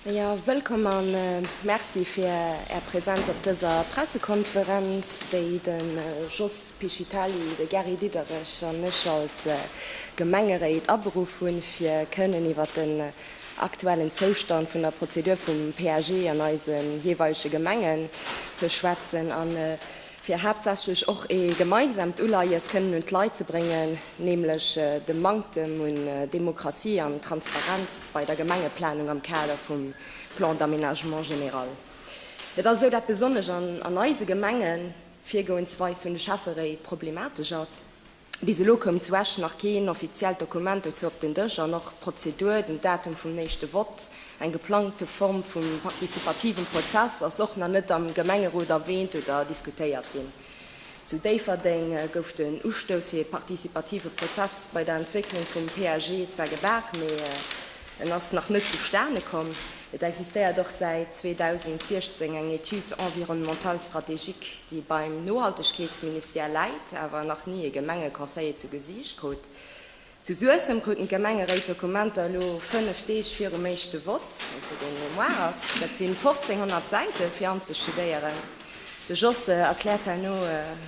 Jo, wëllkomm a Merci fir Är Präsenz op dëser Pressekonferenz, déi de Jos Pichitali, de Gary Diderich an ech als Gemengeréit aberuff hunn, fir kënnen iwwert den aktuellen Zoustand vun der Prozedur vum PAG an eise jeeweilege Gemengen ze schwätzen. fir haaptsächlech och ee gemeinsamt Uleies kënnen un d'Leit ze bréngen, nämlech de Manktem un Demokratie an Transparenz bei der Gemengeplanung am Kader vum Plan d'aménagement général. Et ass esou, dat besonnesch an eise Gemengen d'Virgoensweis vun de Schäfferéit problematesch ass. Bis elo koum zu Esch nach keen offiziellt Dokument dozou op den Dësch an och d'Prozedur, den Datum vum éischte Vott, eng geplangte Form vum participativem Prozess, ass och nach net am Gemengerot erwähnt oder diskutéiert ginn. Zu Déifferdeng gouf den Ustouss fir ee partizipative Prozess bei der Entwécklung vum PAG zwar gebaach, mee en ass nach net zustane komm. Et existéiert och säit 2016 eng Étude environnementale stratégique. déi beim Nohaltegkeetsministère läit, awer nach ni e Gemengeconseiller zu Gesiicht krut. Zu Suessem kruten d'Gemengeréit d'Dokumenter elo 5 Deeg virum éischte Vott, also deen elo muar ass. Dat si 1.500 Säite fir anzestudéieren. De Jos erkläert herno,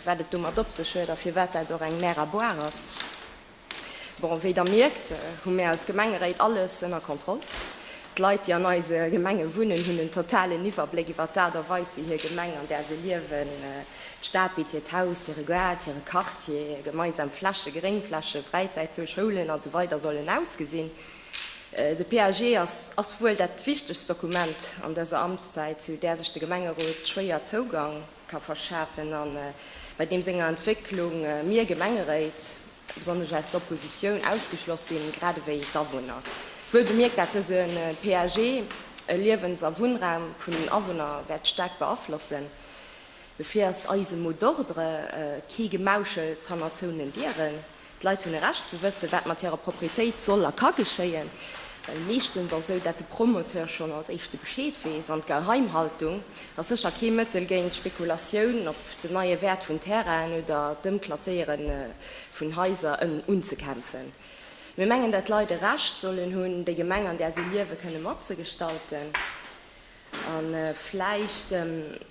wat et domat op sech huet a firwat dat och eng Mer à boire ass. Bon, wéi Der mierkt, hu mär als Gemengeréit alles ënner Kontroll. D'Leit, déi an eise Gemenge wunnen, hunn en totalen Iwwerbléck iwwert d'Aart a Weis, wéi hir Gemeng, an där se liewen, d'Stad bitt, hiert Haus, hire Gaart, hire Quartier, gemeinsam Flächen, Gréngflächen, Fräizäitzon, Schoulen a sou weider sollen ausgesinn. De PAG ass ass wuel dat wichtegst Dokument an dëser Amtszäit, zu där sech de Gemengerot schwéier Zougang. ka verschafen a bei deem senger Entwécklung mir Gemengeréit, besonnesch aus der Oppositioun, ausgeschloss sinn, grad ewéi d'Awunner. Wuel bemierkt, dat dëse PAG e Liewens a Wunnraum vun den Awunner wäert staark beaflossen. Dofir ass eise mot d'ordre kee Gemauschels hannert zouenen Dieren. D'Leit hunn e Recht ze wëssen, wat mat hirer Proprietéit soll a ka geschéien, well meeschtens ass esou, dat de Promoteur schonn als éischte Bescheed weess. An d'Geheimhaltung ass sécher kee Mëttel géint d'Spekulatioun op den neie Wäert vun Terrainen oder d'Ëmklasséiere vun Haiser unzekämpfen. Mir mengen, dat d'Leit e Recht sollen hunn, déi Gemeng, an där si liewen, kënne matzegestalten. A vläicht,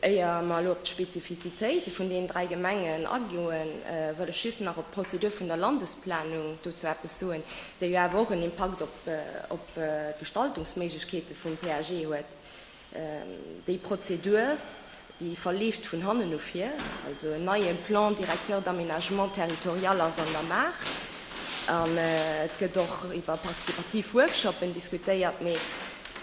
éier mer elo op d'Spezifizitéite vun deenen dräi Gemengen agoen, wëll ech just nach op d'Prozedur vun der Landesplanung dozou eppes soen, déi jo awer och en Impakt op d'Gestaltungsméiglechkeete vum PAG huet. Déi Prozedur, déi verleeft vun hannen no vir, also en neie Plan directeur d'aménagement territorial ass an der Maach an et gëtt och iwwer participativ Workshoppen diskutéiert, mee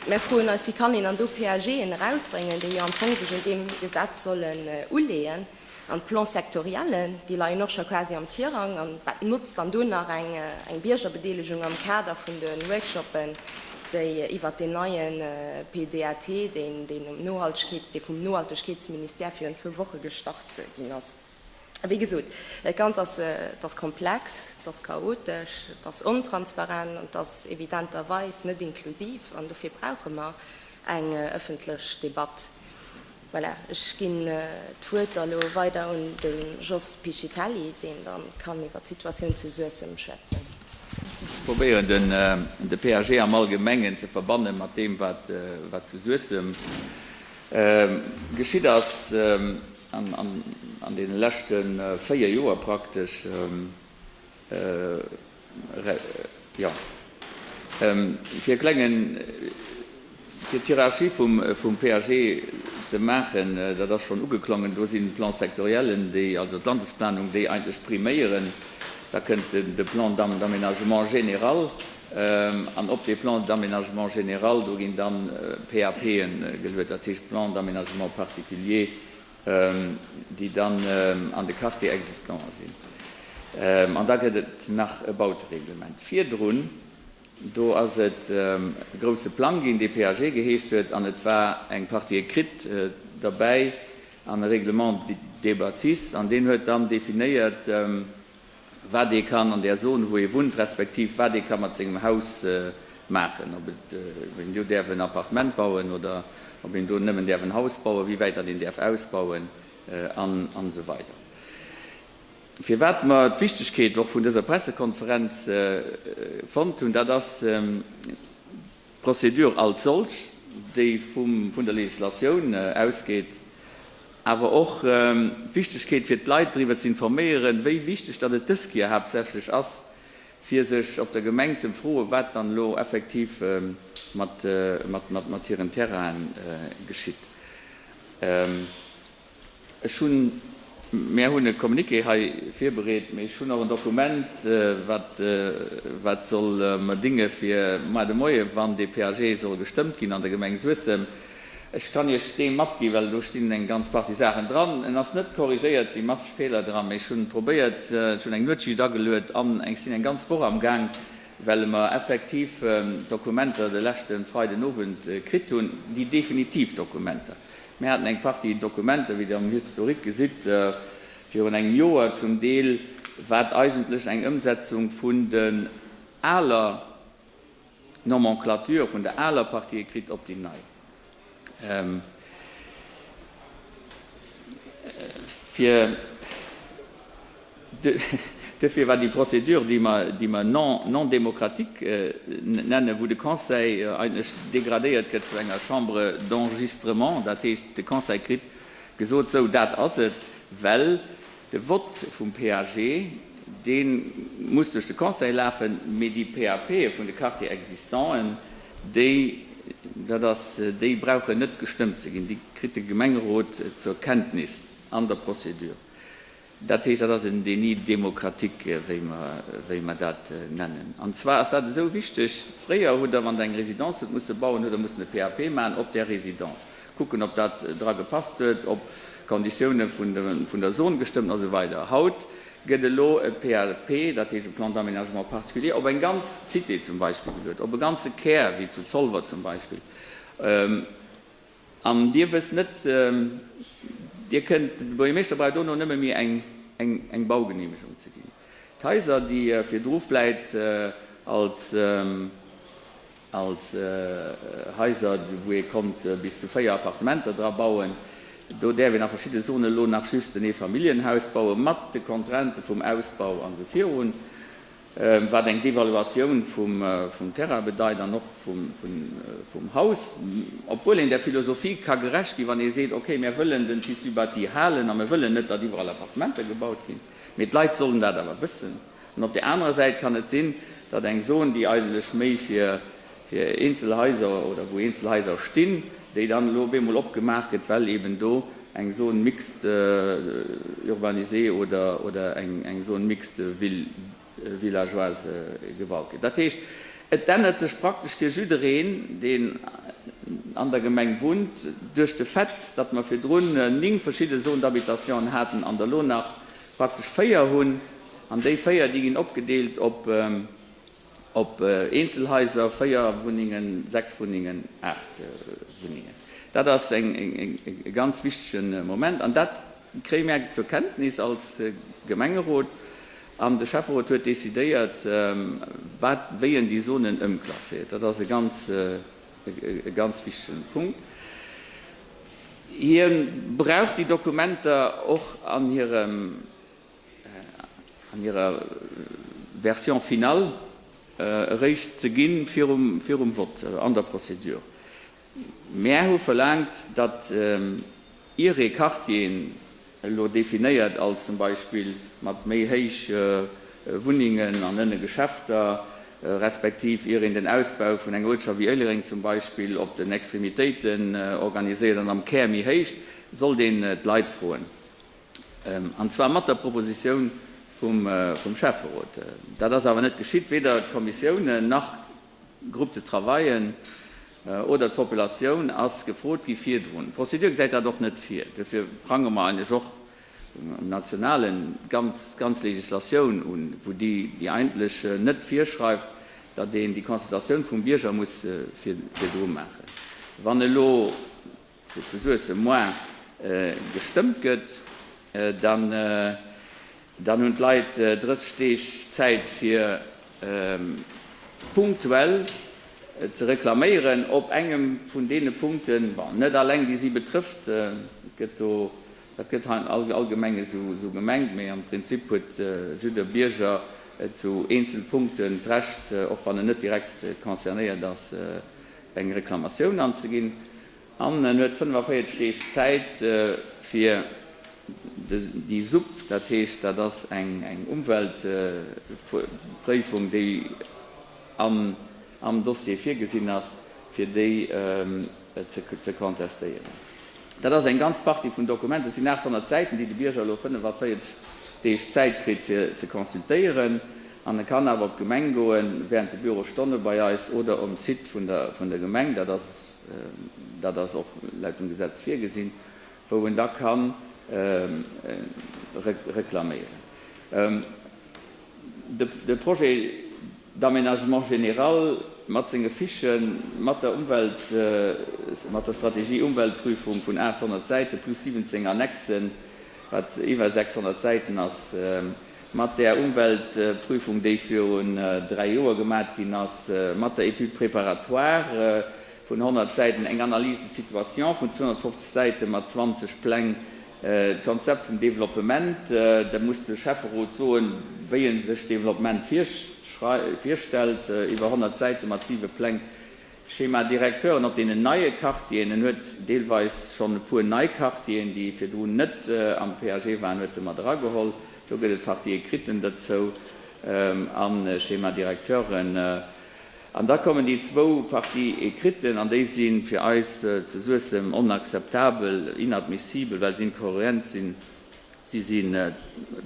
mär froen eis, wéi kann een dann do PAGen erausbréngen, déi jo am Fong sech un deem Gesetz sollen uleeën, an d'Plan-sectoriellen, déi leien och scho quasi am Tirang, an wat notzt dann do nach eng Biergerbedeelegung am Kader vun de Workshoppen? déi iwwert deen neie PDAT, deen ëm Nohaltegkeet, dee vum Nohaltegkeetsministère virun zwou Woche gestart ginn ass. Wéi gesot, dat Ganzt ass, et ass komplex, et ass chaotesch, et ass ontransparent an et ass evidenterweis net inklusiv. An dofir brauche mer eng ëffentlech Debatt. Voilà, ech ginn d'Wuert da lo weider un de Jos Piscitelli, deen da kann iwwer d'Situatioun zu Suessem schwätzen. Ech probéieren, de PAG am Allgemengen ze verbanne mat deem, wat zu Suessem geschitt ass an deene leschte véier Joer praktesch. Fir e klengen, fir d'Hierarchie vum PAG ze maachen, dat ass schonn ugeklongen, do sinn d'Plan-sectoriellen, déi, also d'Landesplanung, déi eigentlech priméieren. Da kënnt de Plan d'aménagement général an op dee Plan d'aménagement général, do ginn dann PAPen geluet, dat heescht Plans d'aménagement particuliers, déi dann an de Quartier existants sinn, an da gëtt et nach e Bautereglement. Virdrun do ass et e grouse Plang ginn, dee PAG geheescht huet, an et war eng Partie écrite derbäi an e Règlement des bâtisses, an deen huet dann definéiert, wat ee kann an där Zone, wou ee wunnt, respektiv wat ee ka mat sengem Haus maachen, ob een do däerf en Appartement bauen oder ob een do nëmmen däerf en Haus bauen, wéi wäit datt een däerf ausbauen an esou weider. Firwat mer d'Wichtigkeet och vun dëser Pressekonferenz fonnt hunn, dat ass, D'Procédure als solch, déi vun der Législatioun ausgeet, awer och d'Wichtegkeet fir d'Leit driwwer ze informéieren, wéi wichteg datt et dës Kéier haaptsächlech ass, fir sech op der Gemeng ze befroen, wat dann elo effektiv mat hiren Terrainen geschitt. Ech hunn, mir hunn e Communiqué hei virbereet, mee ech hunn och en Dokument, wat, wat soll mer dinge fir moar de Moie, wann dee PAG soll gestëmmt ginn an der Gemeng Suessem. Ech kann Iech dee matgi well do stinn eng ganz Partie Saachen dran. En ass net corrigéiert, si masseg Feeler dran, mee ech hunn probéiert, ech hunn eng Nuetsschicht ageluet an eng sinn eng ganz Woch am Gaang, well mer effektiv Dokumenter de leschte Freiden Owend kritt hunn, déi definitiv Dokumenter. Mir haten eng Partie Dokumenter, wéi Dir am Historique gesitt, virun engem Joer zum Deel, wat eigentlech eng Ëmsetzung vun den aler Nomenclature, vun der aler Partie écrite op déi nei fir. Duerfir war déi Procédure, déi mer non démocratique nennen, wou de Conseil eigentlech dégradéiert gëtt zu enger Chambre d'enregistrement, dat heescht, de Conseil kritt gesot, Sou, dat ass et, well de Vote vum PAG, dee muss duerch de Conseil lafen, mee déi PAPe vun de Quartiers existanten, déi, dat ass, déi brauchen net gestëmmt ze ginn, déi kritt de Gemengerot zur Kenntnis an der Procédure. Dat heescht, dat ass en Déni démocratique, wéi mer dat nennen. An zwar ass dat esou wichteg, Fréier hutt Der, wann Der eng Residence hutt musse bauen, hutt Der mussen e PAP maachen op där Residence, kucken, ob dat dra gepasst huet, ob d'Konditioune vun der Zone gestëmmt hunn a sou weider. Haut gëtt elo e PAP, dat heescht e Plan d'aménagement particulier, op eng ganz Cité zum Beispill geluet, op e ganze Kär wéi zu Zolwer zum Beispill. An Dir wësst net, Dir kënnt, de Buergermeeschter brauch dono nëmme méi eng Baugeneemegung ze ginn. D'Haiser, déi virdru vläit als Haiser, wou ee konnt bis zu 4 Appartementer dra bauen, do däerf een a verschidde Zonen elo nach just en Eefamilljenhaus bauen, mat de Contraintë vum Ausbau a sou virun. wat eng Devaluatioun vum Terrain bedeit an och vum Haus, obwuel een där Philosophie ka gerecht ginn, wann ee seet, okay, mir wëllen den Tissu bâti halen a mir wëllen net, datt iwwerall Appartementer gebaut ginn, mee d'Leit sollen dat awer wëssen. An op där anerer Säit kann et sinn, datt eng Zone, déi eigentlech méi fir fir eenzel Haiser oder wou eenzel Haiser stinn, déi dann elo op eemol opgemaach gëtt, well eben do eng Zone mixte urbanisée oder eng Zone mixte villageoise gebaut gëtt. Dat heescht, et ännert sech praktesch fir jiddereen, deen an der Gemeng wunnt, duerch de Fait, datt mer virdrun néng verschidde Zones d'habitationen haten an der elo nach praktesch véier hunn. An déi véier, déi ginn opgedeelt op. Op Eenzelhaiser, 4 Wunnengen, 6 Wunnengen, 8 Wunnengen. Dat ass e ganz wichtige Moment. An dat kréie mär zur Kenntnis als Gemengerot. An de Schäfferot huet decidéiert, wat wéi en déi Zonen ëmklasséiert. Dat ass e ganz, e ganz wichtige Punkt. Hie brauch déi Dokumenter och an hirem. an hirer Version finale eréischt ze ginn, virum Vott an der Procédure. Mär hu verlaangt, datt ier ee Quartieren elo definéiert als zum Beispill mat méi héich Wunnengen an ënne Geschäfter, respektiv ier een den Ausbau vun enger Uertschaft wéi Éilereng zum Beispill op den Extremitéiten organiséiert an am Kär méi héich, sollt een d'Leit froen. An zwar mat der Propositioun vum Schäfferot. Dat ass awer net geschitt. Weder d'Kommissiounen nach d'Groupes de travaillen oder d'Populatioun ass gefrot gi virdrun. D'Prozedur gesäit dat och net vir. Duerfir prangere mer eigentlech och um nationalen ganz d'ganz Legislatioun un, wou déi déi eigentlech net virschreift, datt een déi Consultatioun vum Bierger muss virdru maachen. Wann elo. wou zu Suessem moin gestëmmt gëtt, dann hunn d'Leit 30 Deeg Zäit fir punktuell ze reklaméieren op engem vun deene Punkten, bon net all eng déi si betrëfft, et gëtt do, dat gëtt allgemeng esou gemengt, mee am Prinzip huet jidder Bierger zu eenzele Punkten d'Recht, och wann en net direkt concernéiert ass, eng Reklamatioun anzeginn an en huet 45 Deeg Zäit fir déi Supp, dat heescht dat ass eng Umweltpréifung déi am Dossier virgesinn ass, fir déi ze contestéieren. Dat ass eng ganz Partie vun Dokumenten, et sinn 800 Säiten, déi de Bierger elo 45 Deeg Zäit kritt fir ze consultéieren. An e kann awer op d'Gemeng goen, wärend de Bürostonne bei eis oder um Site vun der Gemeng, dat ass dat ass och laut dem Gesetz virgesinn, wou en da kann reklaméieren. De Projet d'aménagement général mat senge Fichen, mat der Umwelt, mat der Strategie Umweltprüfung vun 800 Säite plus 17 Annexen, wat iwwer 600 Säiten ass, mat där Umweltprüfung, déi virun dräi Joer gemat ginn ass, mat der Étude préparatoire vun 100 Säiten, eng Analyse de situation vun 250 Säite mat 20 Pläng, D'Konzept vum Developpement, da muss de Schäfferot soen, wéi e sech Developpement virstellt, iwwer 100 Säite mat siwe Pläng, Schémadirecteuren op deenen neie Quartieren, en huet deelweis schonn e puer nei Quartieren, déi virdrun net am PAG waren, huet e mat erageholl, do gëtt et Partie écriten derzou a Schémadirecteuren. An da kommen déi zwou Parties écrites, an déi si fir eis zu Suessem onacceptabel, inadmissibles, well se incohérent sinn, si sinn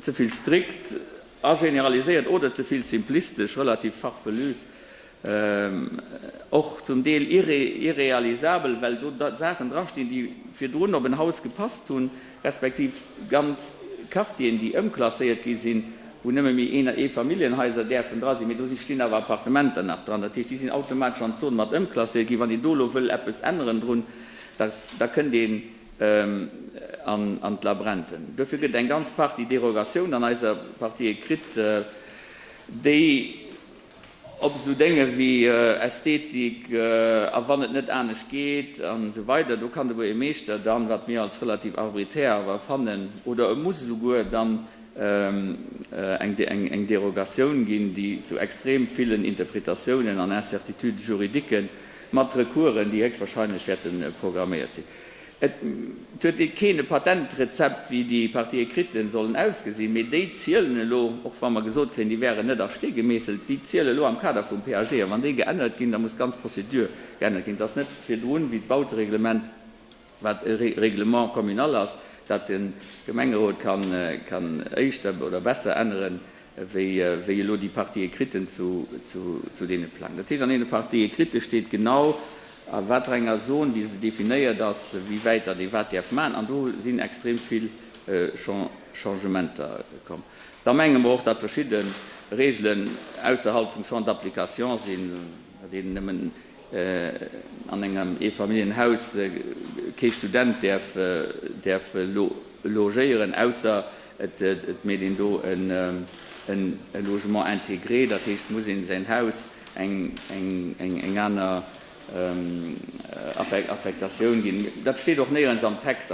ze vill strikt a generaliséiert oder ze vill simplistesch, relativ farfelu, och zum Deel irréalisabel, well do Saachen drastinn, déi virdrun op en Haus gepasst hunn. respektiv ganz Quartieren, déi ëmklasséiert gi sinn, wou nëmme méi Een a Eefamilljenhaiser däerfen dra sinn, mee do stinn awer Appartementer nach dran. Dat heescht, déi sinn automatesch an d'Zon mat ëmklasséiert ginn. Wann een do elo wëll eppes änneren drun, da kënnt een an d'Labränten. Dofir gëtt eng ganz Partie Derogatioun an eiser Partie kritt, déi, Op esou Dénge wéi Ästhetik a wann et net anescht geet an esou weider, do kann ewuer ee Meeschter dann, wat mir als relativ arboritär awer fannen, oder e muss esouguer dann eng Derogatioun ginn, déi zu extrem villen Interpretatiounen an Incertitudes juridiques mat Recoursen, déi héchstwahrscheinlech wäerte programméiert sinn. Et huet ee keen e Patentrezept, wéi déi Partie écriten sollen ausgesinn, mee déi zielen elo, och wa mer gesot kréien, déi wäeren net a Stee gemeesselt, déi zielen elo am Kader vum PAG. A wann déi geännert ginn, da muss d'ganz Prozedur geännert ginn. Et ass net virdrun, wéi d'Bautereglement, wat e Règlement communal ass, dat de Gemengerot kann éischter oder besser änneren, wéi elo déi Partie écrite zu deene Pläng. Dat heescht, an deene Partie écrite steet genau, a wat fir enger Zone déi esou definéiert ass, wéi wäit datt ee wat däerf maachen. An do sinn extrem vill Changementer komm. Da menge mer och, datt verschidde Reegelen ausserhalb vum Champ d'application sinn, datt een nëmmen an engem Eefamilljenhaus kee Student däerf logéieren, ausser et mécht een do e Logement intégré, dat heescht, et muss ee säin Haus eng aner Affektatioun ginn. Dat steet och néierens am Text.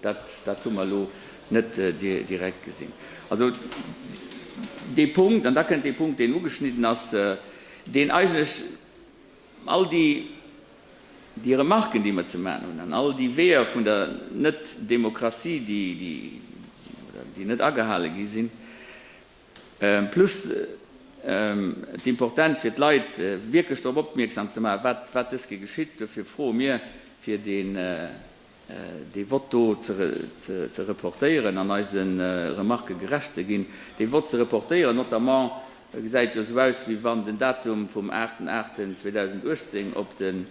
Dat hu mer elo net direkt gesinn. Also dee Punkt, an da kënnt dee Punkt, deen ugeschnidden ass, deen eigentlech all déi Remarken, déi mer ze maachen hunn, an all déi Weeër vun der Net-Demokratie, déi net agehale gi sinn, plus d'Importenz fir d'Leit wierklech drop opmierksam ze maachen, wat dësge geschitt, dofir froe mir fir dee. Dee Vott do ze reportéieren an eise Remarquë gerecht ze ginn, dee Vott ze reportéieren, notamment, e gesäit jo esou aus, wéi wann den Datum vum 8.8.2018 op den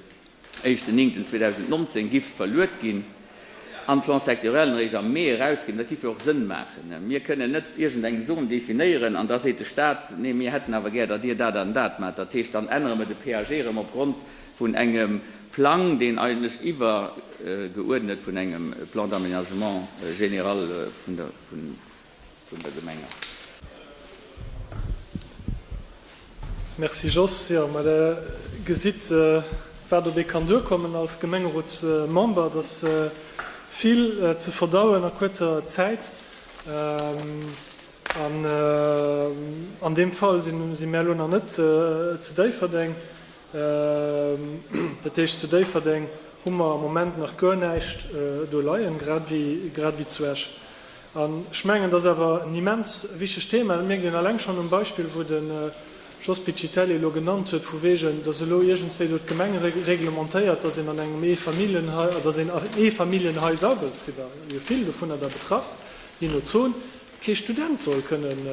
1.9.2019 giff verluet ginn an d'Plan-sectoriellen eréischt am Mee erausginn. Dat giff jo och Sënn maachen. Mir kënnen net iergendeng Zon definéieren an da seet de Stat, nee, mir hätten awer gär, datt Dir dat an dat maacht. Dat heescht, dann ännere mer de PAG erëm opgrond vun engem Plang, deen eigentlech iwwergeuerdnet vun engem Plan d'aménagement général vun der Gemeng ass. Merci Jos. Jo, mä Der gesitt, wat op ee kann duerkommen als Gemengerotsmember. Et ass vill ze verdauen a kuerzer Zäit. An deem Fall si mär elo nach net zu Déifferdeng. Dat heescht, zu Déifferdeng hu mer am Moment nach guer näischt do leien, grad ewéi zu Esch. An ech mengen, dat ass awer en immens wichtegt Thema. Dat mierkt een eleng schonn um Beispill, wou de Jos Piccitelli elo genannt huet, vu wegen, datt elo iergendswéi do d'Gemeng reglementéiert, datt een an engem Eefamilljenhai, datt een an Eefamilljenhaiser, well et si jo vill dovunner da betrafft, je no Zon, kee Student soll kënnen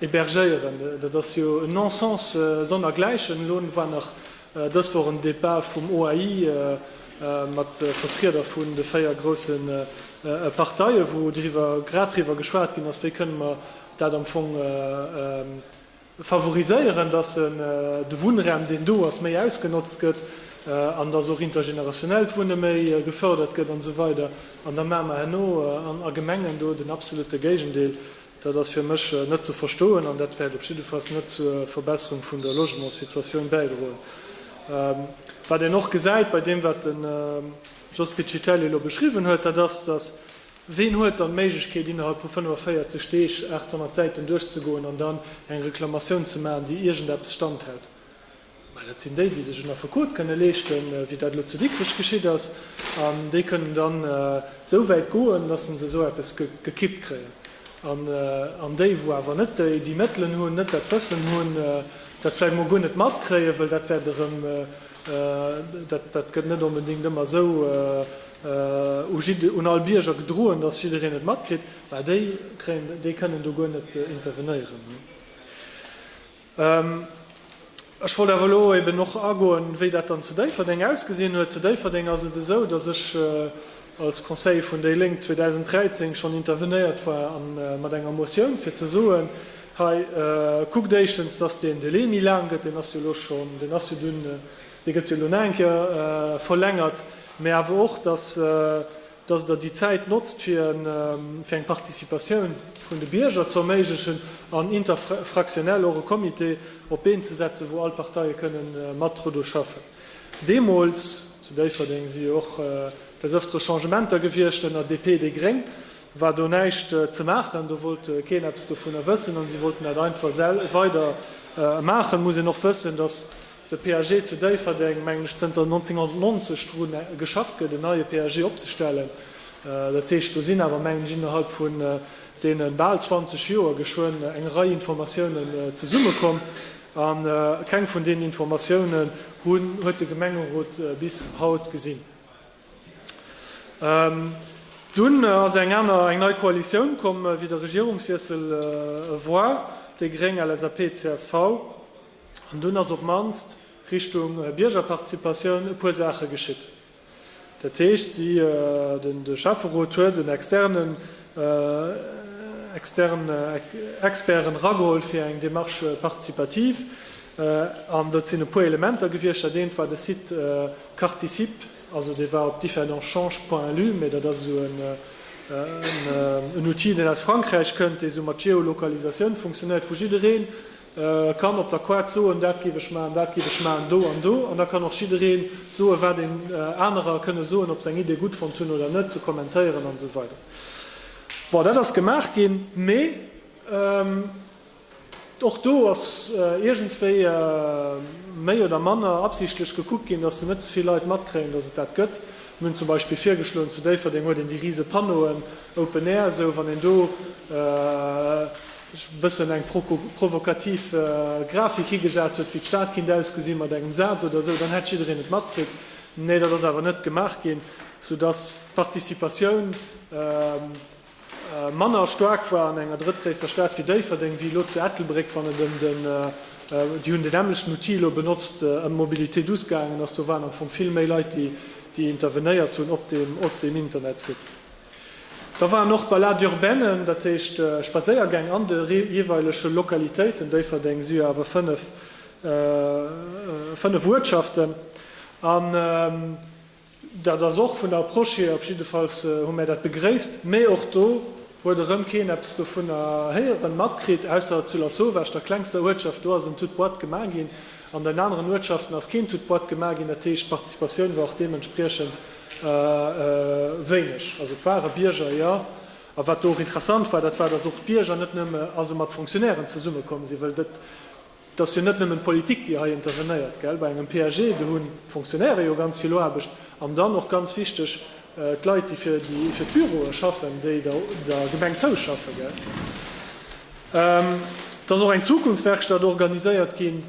Hebergéieren, dat ass jo en Non-Sens sonner gläichen. Elo war nach dës Woch en Départ vum OAI mat Vertrieder vun de véier grousse Parteien, wou driwwer grad driwwer geschwat ginn ass, wéi kënne mer dat am Fong favoriséieren, datt de Wunnraum deen do ass méi ausgenotzt gëtt an datt och intergenerationellt Wunne méi gefërdert gëtt an esou weider. An da maache mer herno a Gemengen do den absolutte Géigendeel. Dat ass fir mech net ze verstoen an dat wäert op jiddefalls net zur Verbesserung vun der Logementssituatioun bäidroen. Wat een och gesäit bei deem, wat den Jos Piccitelli elo beschriwwen huet, dat ass, dass, ween huet dann d'Méiglechkeet innerhalb vu 45 Deeg 800 Säiten duerchzegoen an dann eng Reklamatioun ze maachen, déi iergendeppes standhält? Well dat sinn déi, déi sech en Affekot kënne leeschte wéi dat elo zu Dikrech geschitt ass. An déi kënnen dann esou wäit goen, datt se esou eppes gekippt kréien. An déi, wou awer net déi Mëttelen hunn, net dat Wëssen hunn, dat vläicht emol guer net matkréien, wëll dat wäert erëm, dat gëtt net onbedéngt ëmmer esou un all Bierger gedroen, datt jiddereen et matkritt, mä déi kënnen do guer net intervenéieren. Ech wollt awer elo eben och agoen, wéi dat dann zu Déifferdeng ausgesinn huet. Zu Déifferdeng ass et esou, datt ech als Conseiller vun déi Lénk 2013 schonn intervenéiert war mat enger Motioun, fir ze soen, Hei kuckt éischtens, datt deen Delai méi laang gëtt. Deen ass jo elo schonn, deen ass jo dunn, dee gëtt jo elo nach eng Kéier verlängert. Mä awer och, datt dass Der déi Zäit notzt, fir eng Participatioun vun de Bierger ze erméiglechen an interfraktionell och e Comité op d'Been ze setzen, wou all d'Parteie kënnen mat dru schaffen. Deemools, zu Déifferdeng si jo och des Ëftere Changementer gewiescht ënner DP, déi gréng, war do näischt ze maachen. Do wollt keen eppes dovunner wëssen a si wollten dat einfach weider maachen. Et muss een och wëssen, dass De PAG zu Déifferdeng, mengen ech, zënter 1990 dru geschafft gëtt, en neie PAG opzestellen. Dat heescht, do sinn awer, mengen ech, innerhalb vun deene bal 20 Joer geschwënn eng Rei Informatiounen zesummekomm. A keng vun deenen Informatiounen huet de Gemengerot bis haut gesinn. Dunn ass eng aner, eng nei Koalitioun komm, wéi de Regierungswiessel e war, déi gréng, LSAP, csv. An dunn ass op d'mannst Richtung Biergerparticipatioun e puer Saache geschitt. Dat heescht, de Schäfferot huet en externen Expert erageholl fir eng Démarche participative. An do sinn e puer Elementer gewiescht. Dat eent war de Site Carticipe. Also dee war op differentchange.lu, mee dat ass esou en Outil, deen aus Frankräich kënnt, dee sou mat Geolokalisatioun funktionéiert, wou jiddereen, E kann op der Quad soen, dat géif ech maachen, dat géif ech maachen, do an do. An da kann och jidderee soen, wat een anerer kënne soen, ob se eng Idee gutt fonnt hunn oder net, se kommentéieren an esou weider. Bon, dat ass gemaach ginn, mee och do ass iergendswéi méi oder manner absichtlech gekuckt ginn, dass se net ze vill Leit matkréien, dass et dat gëtt. Mir hunn zum Beispill virgeschloen, zu Déifferdeng huet een déi rise Panneauen, Open Air, esou wann een do, e bëssen eng provokativ Grafik higesat huet, wéi d'Stad kinnt ausgesinn, mat engem Saz oder esou, dann hätt jiddereen et matkritt. Nee, dat ass awer net gemaach ginn, soudass d'Participatioun manner staark war an enger drëttgréisster Stad wéi Déifferdeng wéi elo zu Ettelbréck, wann et ëm den, déi hunn den nämmlechten Outil elo benotzt, ëm Mobilité douce gaangen ass. Do waren am Fong vill méi Leit, déi intervenéiert hunn op deem Internetsite. Da waren och Balades urbaines, dat heescht Spadséiergäng an de jeeweilege Lokalitéiten, Déifferdeng, Syr, awer fënnef, fënnef Uertschaften. An dat ass och vun der Approche hier, op jidde Fall hu mär dat begréisst, mä och do huet erëm keen eppes dovunner héieren, matkritt, ausser zu La Sauvage, der klengster Uertschaft, do ass en toute boîte gemaach ginn. An den aneren Uertschaften ass keen toute boîte gemaach ginn, dat heescht d'Participatioun war och deementspriechend. Wéineg. Also et ware Bierger, jo. A wat do och interessant war, dat war, datt och d'Bierger net nëmme also mat Fonctionnairen zesummekomm sinn, well dat ass jo net nëmmen d'Politik, déi hei intervenéiert, gell, bei engem PAG. Do hunn d'Fonctionnaire jo ganz vill Aarbecht an dann och ganz wichteg d'Leit, déi fir d'Büroe schaffen, déi der Gemeng zouschaffen, gell. Et ass och eng Zukunftswerkstatt organiséiert ginn.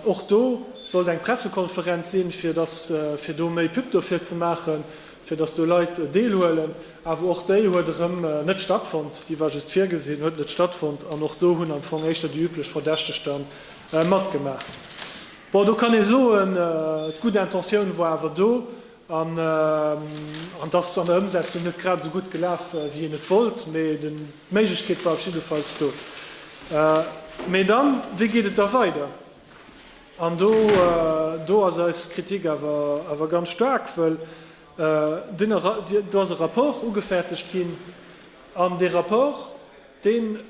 Och do sollt eng Pressekonferenz sinn, fir dass fir do méi Pub dofir ze maachen, fir dass do Leit deelhuelen. Awer och déi huet erëm net stattfonnt. Déi war just virgesinn, huet net stattfonnt. An och do hunn am Fong éischter déi üblech Verdächteg da matgemaach. Bon, do kann ee soen, d'gutt Intentioun war awer do. An et ass an der Ëmsetzung net grad esou gutt gelaf, wéi een et wollt, mee d'Méiglechkeet war op jiddefalls do. Mee dann, wéi geet et da weider? An do ass eis Kritik awer ganz staark, well do ass e Rapport ugefäerdegt ginn, an dee Rapport, deen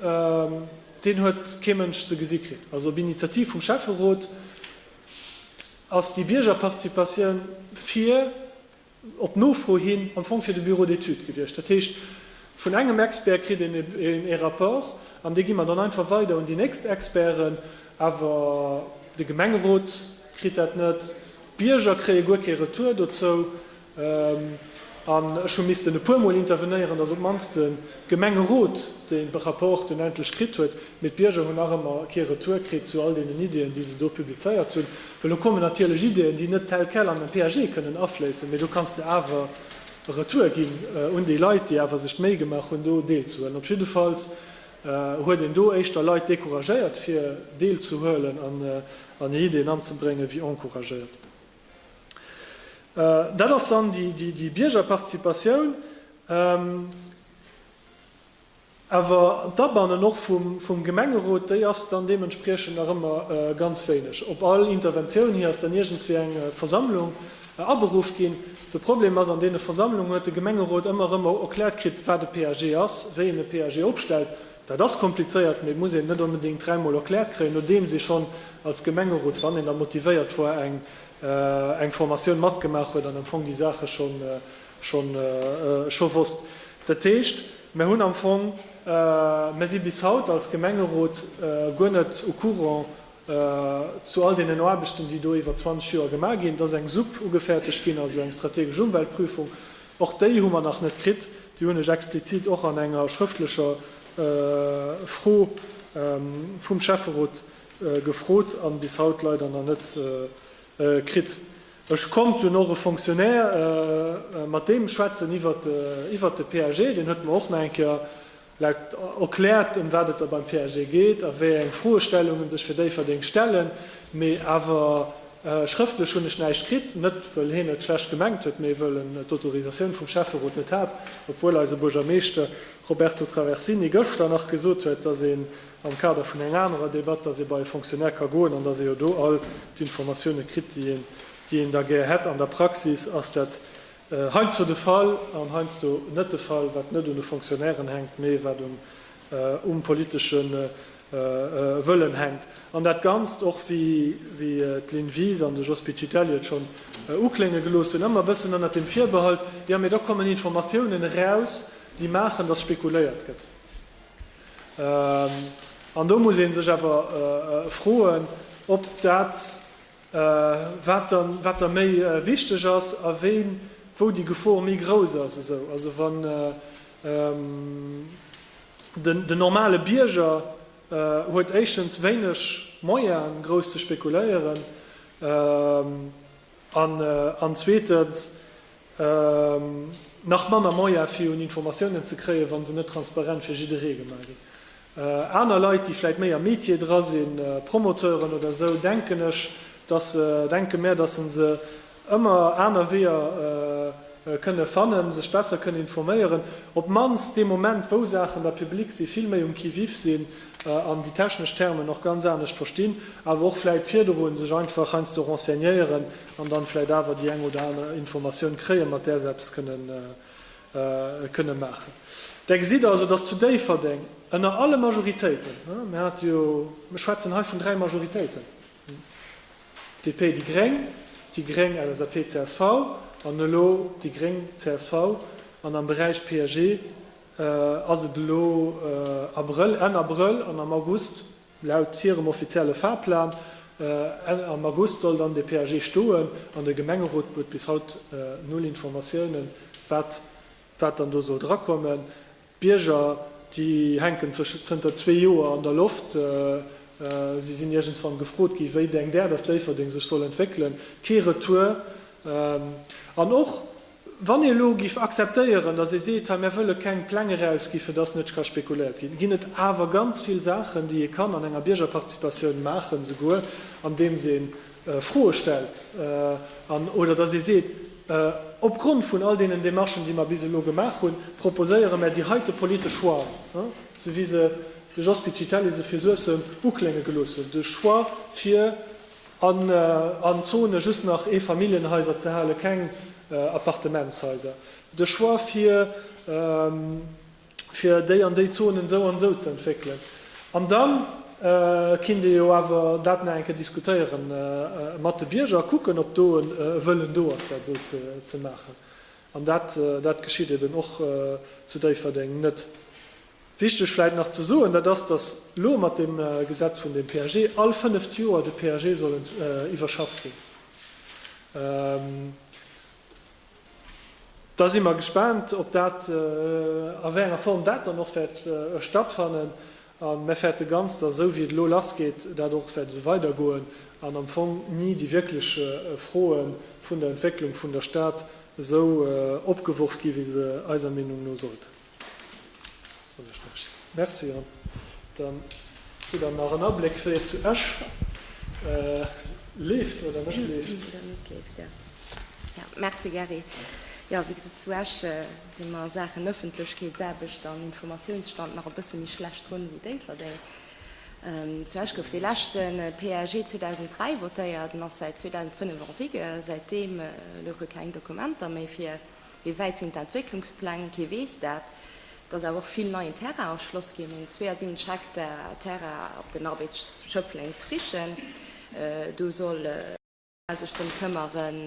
huet kee Mënsch ze gesi kritt, also op Initiativ vum Schäfferot. Ass déi Biergerparticipatioun fir, op Nofro hin, am Fong fir de Bureau d'études gewiescht. Dat heescht, vun engem Expert kritt een ee Rapport an dee gi mer dann einfach weider un déi nächst Experten. Awer de Gemengerot kritt dat net, d'Bierger kréie guer kee Retour dozou. An ech hu missten e puermol intervenéieren, dass op d'mannst de Gemengerot dee Rapport dunn endlech kritt huet, mee d'Bierger hunn nach ëmmer kee Retour kritt zu all deenen Ideeën, déi se do publizéiert hunn. Well do kommen natierlech Ideeën, déi net tel quel an en PAG kënnen afléissen, mee do kanns de awer e Retour ginn un déi Leit, déi awer sech d'Méi gemaach hunn, do deelzehuelen. Op jiddefalls huet een do éischter Leit decouragéiert, fir deelzehuelen, an hir Ideeën anzebréngen, wéi encouragéiert. Dat ass dann déi Biergerparticipatioun, awer d'Abannen och vum Gemengerot, déi ass dann deementspriechend nach ëmmer ganz wéineg. Op all Interventioun hi ass dann iergendwéi eng Versammlung aberuff ginn. De Problem ass, an deene Versammlungen huet de Gemengerot ëmmer erëm erkläert kritt, wat e PAG ass, wéi een e PAG opstellt. Dat ass komplizéiert, mee et muss een net onbedéngt dräi Mol erkläert kréien, nodeems ee schonn als Gemengerot, wann een da motivéiert war, eng Formatioun matgemaach huet an am Fong déi Saache scho wosst. Dat heescht, mir hunn am Fong, mir si bis haut als Gemengerot guer net au courant zu all deenen Aarbechten, déi do iwwer 20 Joer gemaach ginn. Et ass eng Supp ugefäerdegt ginn, also eng strategesch Umweltprüfung, Och déi hu mer nach net kritt. Déi hunn ech explizit och an enger schrëftlecher Fro vum Schäfferot gefrot a bis haut leider nach net kritt. Ech konnt dunn och e Fonctionnaire mat deem schwätzen iwwert de PAG. Deen huet mer och nach eng Kéier Leit erkläert, ëm wat et da beim PAG geet a wéi eng Froestellungen sech fir Déifferdeng stellen, mee awer schrëftlech hunn ech näischt kritt. Net wëll heen et schlecht gemengt huet, mee wëll en d'Autorisatioun vum Schäfferot net hat, obwuel eise Buergermeeschter Roberto Traversini gëschter nach gesot huet, dass een am Kader vun enger anerer Debatt, dass ee bei e Fonctionnaire ka goen an dass ee jo do all d'Informatiounen kritt, déi een da gär hätt. An der Praxis ass dat Heiansdo de Fall an heiansdo net de Fall, wat net un de Fonctionnairen hänkt, mee wat um politesche Wëllen hänkt. An dat Ganzt, och wéi d'Lynn Wies an de Jos Piccitelli et schonn uklénge gelooss hunn, ëmmer e bëssen ënnert dem Virbehalt, jo, mee do kommen Informatiounen eraus, déi maachen, datt spekuléiert gëtt. An do muss ee sech awer froen, ob dat, wat da méi wichteg ass a wéin, wou déi Gefor méi grouss ass, esou also wann den normale Bierger huet éischtens wéineg Moyen grouss ze spekuléieren an zweetens nach manner Moyen fir un Informatiounen ze kréien, wann se net transparent fir jidderee gemaach ginn. Aner Leit, déi vläit méi am Metier dra sinn, Promoteuren oder esou, denken ech, dass se, denke mär, dass se se ëmmer aner Weeër kënne fannen, sech besser kënne informéieren, op d'mannst dee Moment, wou Saachen da public sinn, vill méi um Qui-vive sinn an déi technesch Termen och ganz anescht verstinn, awer och vläit virdru sech einfach heiansdo renseignéieren an dann vläit awer déi eng oder aner Informatioun kréien, mat där se eppes kënnen kënne maachen. Da gesitt Der also, dass zu Déifferdeng ënner alle Majoritéiten, mir hate jo, mir schwätzen hei vun dräi Majoritéiten, DP, déi gréng, déi gréng, LSAP, csv an elo déi gréng, csv, an am Beräich PAG ass et elo Abrëll, Enn Abrëll an am August Laut hirem offizielle Fahrplan am August soll dann de PAG stoen an de Gemengerot huet bis haut null Informatiounen, wat wat dann do soll drakommen. D'Bierger, déi hänken zënter zwee Joer an der Loft. Si sinn iergendswann gefrot gi wéi denkt Där, datt Déifferdeng sech soll entwéckelen? Kee Retour. An och Wann ee elo géif akzeptéieren, datt ee seet, hei, mär wëlle keng Pläng erausgi fir datt net ka spekuléiert ginn, ginn et awer ganz vill Saachen, déi ee kann an enger Biergerparticipatioun maachen, esouguer andeems ee Froe stellt an, oder datt ee seet, opgrond vun all deenen Demarchen, déi mer bis elo gemaach hunn, proposéiere mär déi heite politesch Choixen, esou wéi se de Jos Piccitelli se fir Suessem uklénge gelooss huet, de Choix fir, An an Zone just nach Eefamilljenhaiser ze halen, keng Appartementshaiser. De Choix fir fir déi an déi Zonen esou an esou ze entwéckelen. An da kinnt ee jo awer dat nach eng Kéier diskutéiere mat de Bierger a kucken, ob do e Wëllen do ass, dat esou ze maachen. An dat geschitt eben och zu Déifferdeng net. Wichteg vläit nach ze soen, dat ass, dass elo mat deem Gesetz vun deem PAG all fënneft Joer de PAG soll iwwerschafft ginn. Da si mer gespaant, ob dat, a wéi enger Form dat dann och wäert stattfannen. A mir fäerte ganz, dass esou wéi et elo lassgeet, dat och wäert esou weidergoen an am Fong ni déi wierklech Froe vun der Entwécklung vun der Stad esou opgeworf ginn, wéi se eiser Meenung no sollten. Merci an dann kritt der nach en Abléck wéi et zu Esch leeft oder net leeft. Merci Gerry. Jo wéi gesot zu Esch si mer a Saachen Ëffentlechkeetsaarbecht an Informatiounsstand nach e bësse méi schlecht drun wéi Déifferdeng. Zu Esch gouf dee leschte PAG 2003 votéiert, en ass säit 2005 en vigueur. Säitdeem louche keng Dokumenter méi fir. Wéi wäit sinn d'Entwécklungspläng? Kee weess dat. Et ass awer och vill neien Terrain erschloss ginn, meng 72 Hektar Terrain op den Arbeits Schëffleng's Frichen. Do soll d'Chamber sech drëm këmmeren,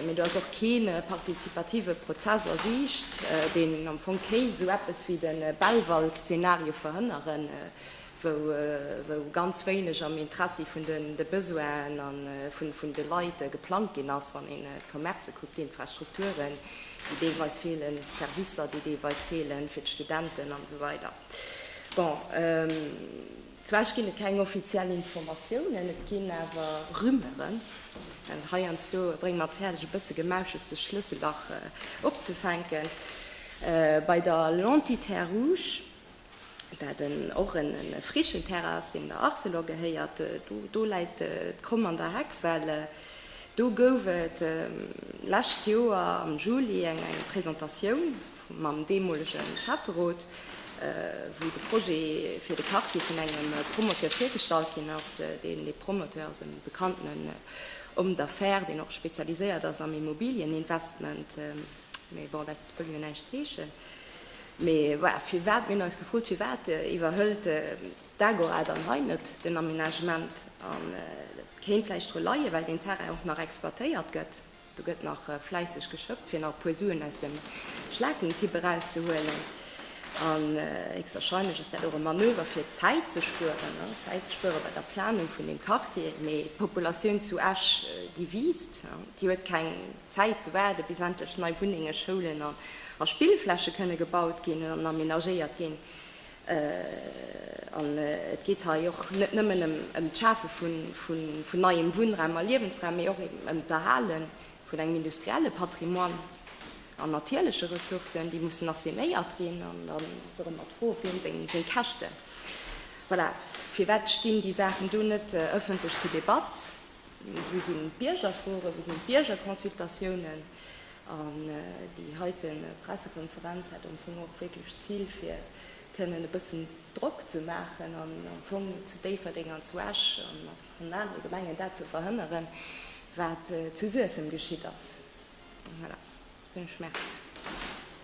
mee do ass och kee partizipative Prozess a Siicht, deen am Fong kéint esou eppes wéi de Belval-Szenario verhënneren. wou ganz wéineg am Interessi vun de Besoinen a vun de Leit geplangt ginn ass, wann een d'Commercë kuckt, d'Infrastrukturen, déi deelweis feelen, d'Servicer, déi deelweis feelen fir d'Studenten an esou weider. Bon, zwar ginn et keng offiziell Informatiounen, et ginn awer Rumeuren. Heiansdo brénge mer et fäerdeg, e bësse Gemauschels zu Schlësselbach opzefänken. Bei der L'Entité Rouge dat en och en frischen Terrain ass deen der Arcelor gehéiert, do läit d'Kromm an der Heck, well do gouf et lescht Joer am Juli eng Presentatioun mam deemolege Schäfferot, wou de Projet fir de Quartier vun engem Promoteur virgestallt ginn ass, deen dee Promoteur ass e bekannten Homme d'affaires, deen och spezialiséiert ass am Immobilieninvestment. Mee bon, dat wëll jo näischt heeschen. Mee voilà, firwat, mir hunn eis gefrot, firwat iwwerhëlt d'Agora dann hei net den Aménagement? An dat kéint vläicht dru leien, well deen Terrain och nach exploitéiert gëtt. Do gëtt nach fläisseg geschëppt, fir nach e puer Suen aus dem Schlakentipp erauszehuelen. An héchstwahrscheinlech ass dat och e Manöver, fir Zäit ze spueren, Zäit ze spueren bei der Planung vun deem Quartier. Mee d'Populatioun zu Esch, déi wiisst, déi huet keng. D'Zäit ze waarden, bis endlech nei Wunnengen, Schoulen a Spillfläche kënne gebaut ginn an amenagéiert ginn. An et geet hei och net nëmmen ëm d'Schafe vun neiem Wunnraum a Liewensraum, mee och eben ëm d'Erhale vun engem industrielle Patrimoine an natierleche Ressourcen, déi mussen assainéiert ginn. An dann ass och ëmmer d'Fro, Wiem seng Käschten? Voilà, firwat stinn déi Saachen do net ëffentlech zur Debatt? Wou sinn d'Biergerfroen, wou sinn d'Biergerconsultatiounen? An déi heite Pressekonferenz hätt am Fong och wierklech d'Zil, fir kënnen e bëssen Drock ze maachen an am Fong zu Déifferdeng an zu Esch an och an anere Gemengen dat ze verhënneren, wat zu Suessem geschitt ass. Voilà, sot ech Merci.